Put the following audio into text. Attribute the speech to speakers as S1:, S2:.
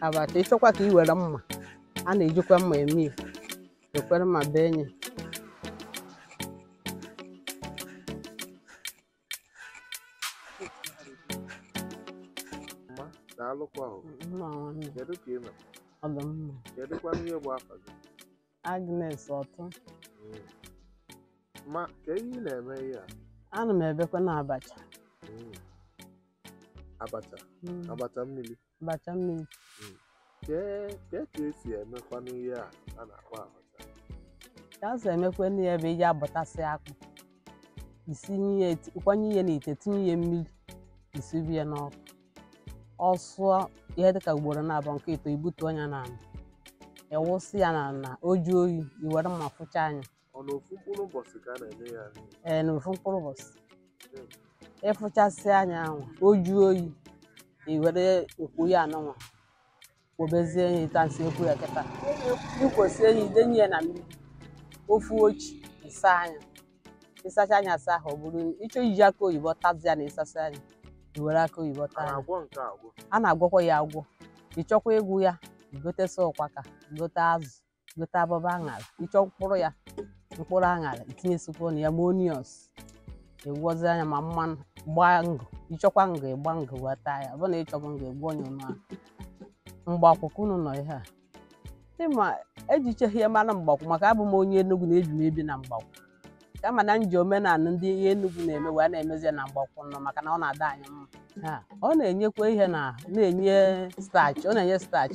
S1: abacha ịchọkwa ka ị were mma a na-ejikwa mma eme ya ekwere mma bee nye mma daalụkwa o mma nwanne kedu ka ị nọ ọ dị mma kedụkwa ihe bụ afa gị Agnes Ọtụ
S2: Mm. ma kee ihe ị na-eme ihe a ana m ebekwanụ
S1: abacha Mm.
S2: abacha Mm. abacha mmiri abacha mmiri kee kee ka esi emekwanụ ihe a a na-akpọ abacha ka
S1: esi emekwanụ ya bụ ị ja-abọtasị akpụ isinye ya eti- kwanye ya n'ite tinye ya mmiri isibi ya n'ọkụ ọ sụọ ihe dịka ugboro naabọ nke ịtọ ibutuo nya n'ala ịwụsị ya n'ala o juo oyi iwere mma fụchaa nya Ọ na ofu mkpụrụ
S2: ụbọchị ka a na-eme ya. ee na ofu
S1: mkpụrụ ụbọchị ịfụchasịa nya ahụ o juo oyi i were nkwo ya anụnwa kwobezie nye etu m si ekwo ya kịta ikwosie nye idenye ya na mmiri ofu uchi ịsaa nya ịsachaa nya asa ahụ ọ bụrụ ịchọ iji akị oyibo tazie ya na ịsasịa nya i were akị oyibo a taa nya na-agwọ nke a agwọ. a na-agwọkwa ya agwọ ịchọkwa ịgwọ ya igotesia ụkpaka gote azụ gote abụba aṅara ịchọ mkpụrụ ya mkpụrụ aṅara itinyesikwo na ya ma onions ịgwọzia nya ma mmanụ gbaa ngụ ịchọkwa ngụ ịgba ngụ wee taa ya ọ bụrụ na ịchọghị ngụ ịgwọọ nya ọnụ ahụ Mgbakwu ka unu nọ ihe a ịma ejichaghị ya mara Mgbakwu maka abụ m onye Enugu na-ebi m ebi na Mgbakwu kama na nji omenala ndị ihe Enugu na-eme wee na-emezi ya na Mgbakwu nọ maka na ọ na-adị anyị mma Ha, ọ na-enyekwa ihe na na-enye starch ọ na-enye starch